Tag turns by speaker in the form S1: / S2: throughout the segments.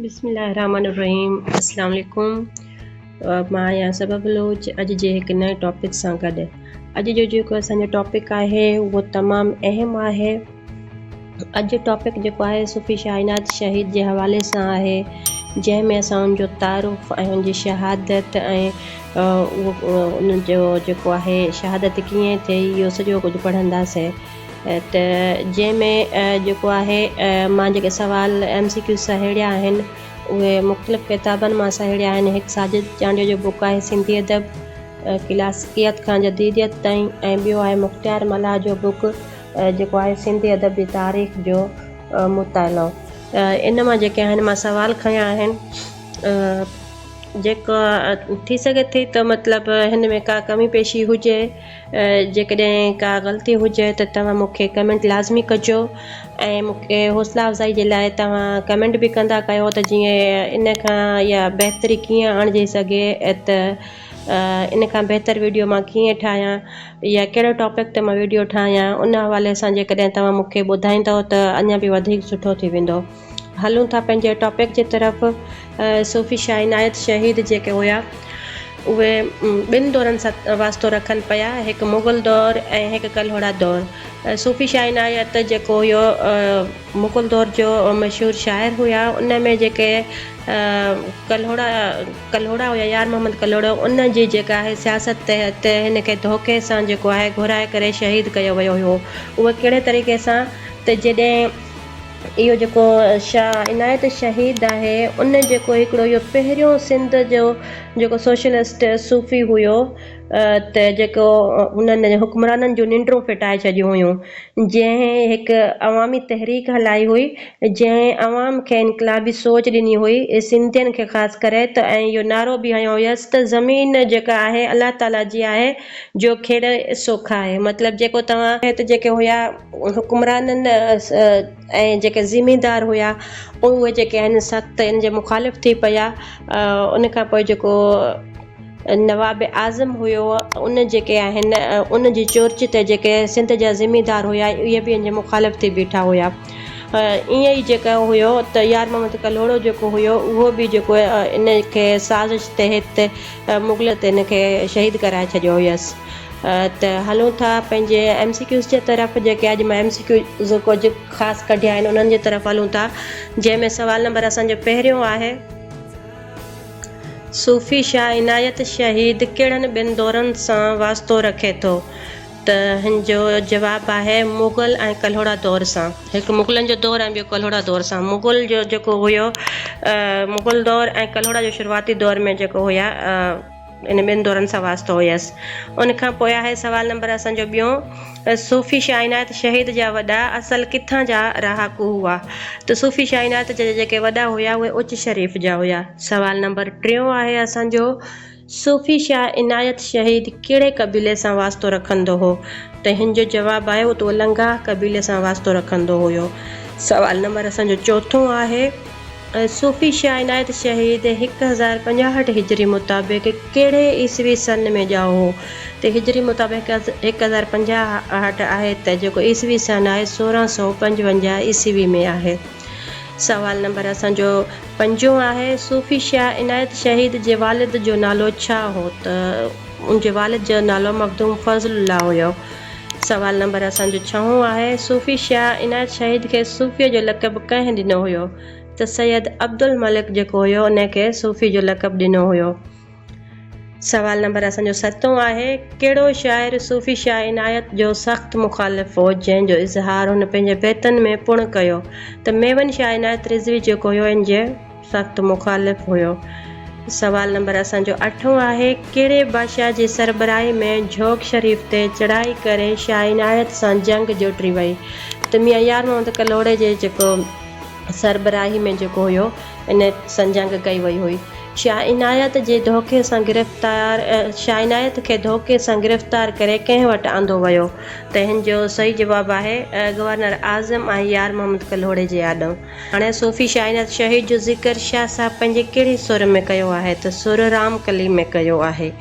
S1: بسم الله الرحمن الرحيم السلام عليڪم مان آهيان سبا بلوچ اڄ جي هڪ نئين ٽاپڪ سان گڏ اڄ جو جيڪو اسان جو ٽاپڪ آهي اهو تمام اهم آهي اڄ جو ٽاپڪ جيڪو آهي صوفي شاهينات شهيد جي حوالي سان آهي جنهن ۾ اسان ان جو تعارف ۽ ان جي شهادت ۽ ان جو جيڪو آهي شهادت ڪيئن ٿي اهو سڄو ڪجهه پڙهنداسين ته جنهن ۾ جيڪو آهي مان جيڪي سوال ايم سي ڪيوز سهيڙيا آهن اهي مختلف ڪتابن مان سهيڙيا آهن هڪ ساجد چانڊيو جو بوڪ آهي سنڌي ادب ڪلاسڪيت کان جديديت تائين ۽ ٻيو آهي مختيار ملاح جو بوڪ جيڪو آهي سنڌي ادب جي تاريخ جو مطالعو ان مان جيڪي آهن مان سوال کنيا آهن جيڪا ٿي سگهي ٿي ته مطلب هن ۾ ڪا ڪمي پيشي هجي جيڪڏهن ڪا غلطي هجي ته توهان مون کي ڪمينٽ لازمي ڪجو ۽ مون کي حوصلا افزائي جي لاء توهان ڪمينٽ به ڪندا ڪيو ته جيئن ان کان يا بهتري ڪيئن آڻجي سگهي ته ان کان بهتر ويڊيو مان ڪيئن ٺاهيان يا ڪهڙو ٽاپڪ تي مان ويڊيو ٺاهيان ان حوالي سان جيڪڏهن توهان مون کي ٻڌائيندو ته اڃان به وڌيڪ سٺو ٿي ويندو. هلون ٿا پنهنجي ٽاپڪ جي طرف. صوفي شاهه عنايت شهيد جيڪي هيا اهي ٻن دورن سان واسطو رکن پيا هڪ مغل دور ۽ هڪ ڪلهوڙا دور. صوفي شاهه عنايت جيڪو هيو مغل دور جو مشهور شاعر هيا ان ۾ جيڪي ڪلهوڙا ڪلهوڙا هيا يار محمد ڪلهوڙو ان جي جيڪا آهي سياست تحت هن کي ڌوڪي سان جيڪو آهي گهرائي ڪري شهيد ڪيو ويو هيو اهو ڪهڙي طريقي سان ته جڏهن اهو جيڪو شاهه عنايت شهيد آهي ان جيڪو هڪڙو اهو پهريون سنڌ جو جيڪو سوشلسٽ صوفي هيو ته جيڪو انهن حڪمرانن جون ننڊون ڦٽائي ڇڏيون هيون جنهن هڪ عوامي تحريڪ هلائي هئي جنهن عوام کي انقلابي سوچ ڏني هئي سنڌين کي خاص ڪري ته ۽ اهو نعرو به هنيو هيس ته زمين جيڪا آهي الله تعالي جي آهي جو کيڙي سو کائي مطلب جيڪو توهان هت جيڪي هيا. حڪمرانن ۽ جيڪي زميندار هيا اهي جيڪي آهن سخت ان جي مخالف ٿي پيا ان کان پوء جيڪو نواب اعظم هيو ان جيڪي آهن ان جي چورچي تي جيڪي سنڌ جا زميندار هيا اهي به ان جي مخالف ٿي بيٺا هيا ائين ئي جيڪو هيو ته يار محمد ڪلهوڙو جيڪو هيو اهو به جيڪو ان کي سازش تحت مغل تن کي شهيد ڪرائي ڇڏيو هيس ته هلون ٿا پنهنجي ايم سي ڪيوز جي طرف جيڪي اڄ مان ايم سي ڪيوز ڪجهه خاص ڪڍيا آهن انهن جي طرف هلون ٿا جنهن ۾ سوال نمبر اسان جو پهريون آهي صوفي شاهه عنايت شهيد ڪهڙن ٻن دورن سان واسطو رکي ٿو؟ ته هن جو جواب آهي مغل ۽ ڪلهوڙا دور سان. هڪ مغلن جو دور ۽ ٻيو ڪلهوڙا دور سان. مغل جو جيڪو هيو مغل دور ۽ ڪلهوڙا جو شروعاتي دور ۾ جيڪو هيا ان ٻن دورن سان واسطو هيس. ان کان پوء آهي سوال نمبر اسان جو ٻيون صوفي شاهه عنايت شهيد جا وڏا اصل ڪٿان جا رهاڪو هئا؟ ته صوفي شاهه عنايت جا جيڪي وڏا هيا اهي اچ شريف جا هيا. سوال نمبر ٽيون آهي اسان جو. صوفي شاهه عنايت شهيد ڪهڙي قبيلي سان واسطو رکندو هو؟ تنهن جو جواب آيو ته هو لنگاهه قبيلي سان واسطو رکندو هيو. سوال نمبر اسان جو چوٿون آهي. صوفي شاهه عنايت شهيد هڪ هزار پنجاهٺ هجري مطابق ڪهڙي عيسوي سن ۾ ڄائو هو؟ ته هجري مطابق هڪ هزار پنجاهٺ آهي ته جيڪو عيسوي سن آهي سورهن سؤ پنجونجاهه عيسوي ۾ آهي. سوال نمبر اسان جو پنجون آهي، صوفي شاهه عنايت شهيد جي والد جو نالو ڇا هو ته ان جي والد جو نالو مخدوم فضل الله هيو. سوال نمبر اسان جو ڇهون آهي، صوفي شاهه عنايت شهيد کي صوفيء جو لقب ڪنهن ڏنو هيو ته سيد عبدالملڪ جيڪو هيو ان کي صوفي جو لقب ڏنو هيو. سوال نمبر اسان جو ستون آهي، ڪهڙو شاعر صوفي شاهه عنايت جو سخت مخالف هو، جنهن جو اظهار هن پنهنجي بيتن ۾ پڻ ڪيو ته ميمن شاهه عنايت رضوي جيڪو هيو ان جي سخت مخالف هيو. سوال نمبر اسان جو اٺون آهي، ڪهڙي بادشاهه جي سربراهي ۾ جهوڪ شريف تي چڙهائي ڪري شاهه عنايت سان جنگ جوٽري وئي ته ميان يار محمد ڪلهوڙي جي جيڪو سربراهي ۾ جيڪو هيو ان سان جنگ ڪئي وئي هئي. شاهه عنايت جي ڌوڪي سان گرفتار شاهه عنايت کي ڌوڪي سان گرفتار ڪري ڪنهن وٽ آندو ويو؟ تنهن جو صحيح جواب آهي گورنر اعظم ۽ يار محمد ڪلهوڙي جي آڏو. هاڻي صوفي شاهه عنايت شهيد جو ذڪر شاهه صاحب پنهنجي ڪهڙي سر ۾ ڪيو آهي ته سر رام ڪلي ۾ ڪيو آهي.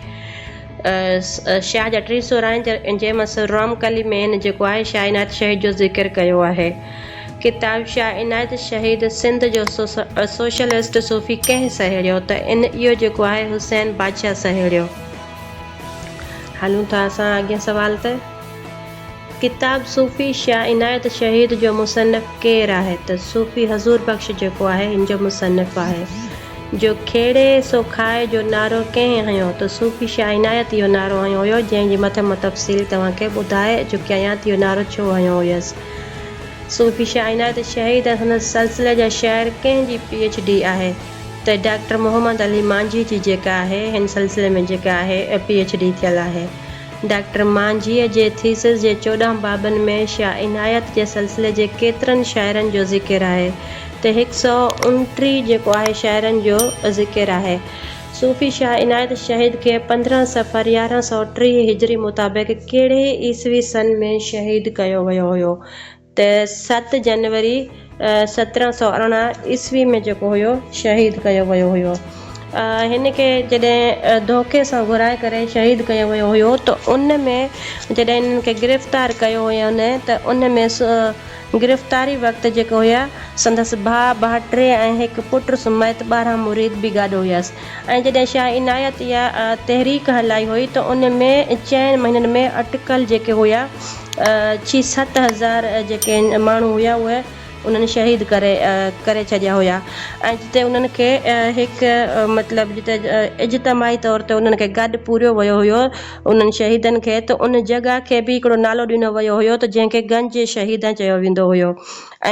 S1: شاهه جا ٽي سر آهن، جنهن مان سر رام ڪلي مين جيڪو آهي شاهه عنايت شهيد جو ذڪر ڪيو آهي. ڪتاب شاهه عنايت شهيد سنڌ جو سوشلسٽ صوفي ڪنهن سهيڙيو ته ان اهو جيڪو آهي حسين بادشاهه سهيڙيو. هلون ٿا اسان اڳين سوال تي. ڪتاب صوفي شاهه عنايت شهيد جو مصنف ڪير آهي ته صوفي حضور بخش جيڪو آهي هن جو مصنف آهي جو کيڙي سو کائي جو نعرو ڪنهن هنيو ته صوفي شاهه عنايت اهو نعرو هنيو هيو جنهن جي مٿ مان تفصيل توهان کي ٻڌائي چڪي آهيان ته اهو نعرو ڇو هنيو هيس صوفي شاهه عنايت شهيد ۽ سندس سلسلي جا شعر ڪنهن جي پي ايڇ ڊي آهي ته ڊاڪٽر محمد علي مانجهي جي جيڪا آهي هن سلسلي ۾ جيڪا آهي پي ايڇ ڊي ٿيل آهي. ڊاڪٽر مانجهيء جي ٿيسز جي چوڏهن بابن ۾ شاهه عنايت جي سلسلي جي ڪيترن شاعرن جو ذڪر آهي ته هڪ سؤ انٽيهه جيڪو آهي شاعرن جو ذڪر آهي. صوفي شاهه عنايت شهيد کي پندرهن صفر يارهن سؤ ٽيهه هجري مطابق ڪهڙي عيسوي سن ۾ شهيد ڪيو ويو هيو ته تي ست جنوري سترهن سؤ ارڙهن عيسوي ۾ جيڪو هيو شهيد ڪيو ويو هيو هن کي جڏهن ڌوڪي سان گهرائي ڪري شهيد ڪيو ويو هيو ته ان ۾ جڏهن انهن کي گرفتار ڪيو هين ته ان ۾ گرفتاري وقت جيڪي هيا سندس ڀاء ڀاٽري ۽ هڪ پٽ سميت ٻارهن مريد به گڏ هيس ۽ جڏهن شاهه عنايت اها تحريڪ هلائي هئي ته ان ۾ چئن مهينن ۾ اٽڪل جيڪي هيا ڇهه ست هزار جيڪي ماڻهو هيا اهي انهن شهيد ڪري ڪري ڇڏيا هيا ۽ جتي انهن کي هڪ مطلب جتي اجتماعي طور تي انهن کي گڏ پوريو ويو هيو انهن شهيدن کي ته ان جڳهه کي به هڪڙو نالو ڏنو ويو هيو ته جنهن کي گنج شهيدان چيو ويندو هيو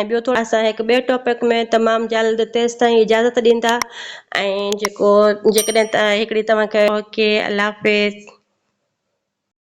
S1: ۽ ٻيو ٿورو اسان هڪ ٻئي ٽاپڪ ۾ تمام جلد تيستائين اجازت ڏيندا ۽ جيڪو جيڪڏهن هڪڙي توهان کي اوڪي الله حافظ.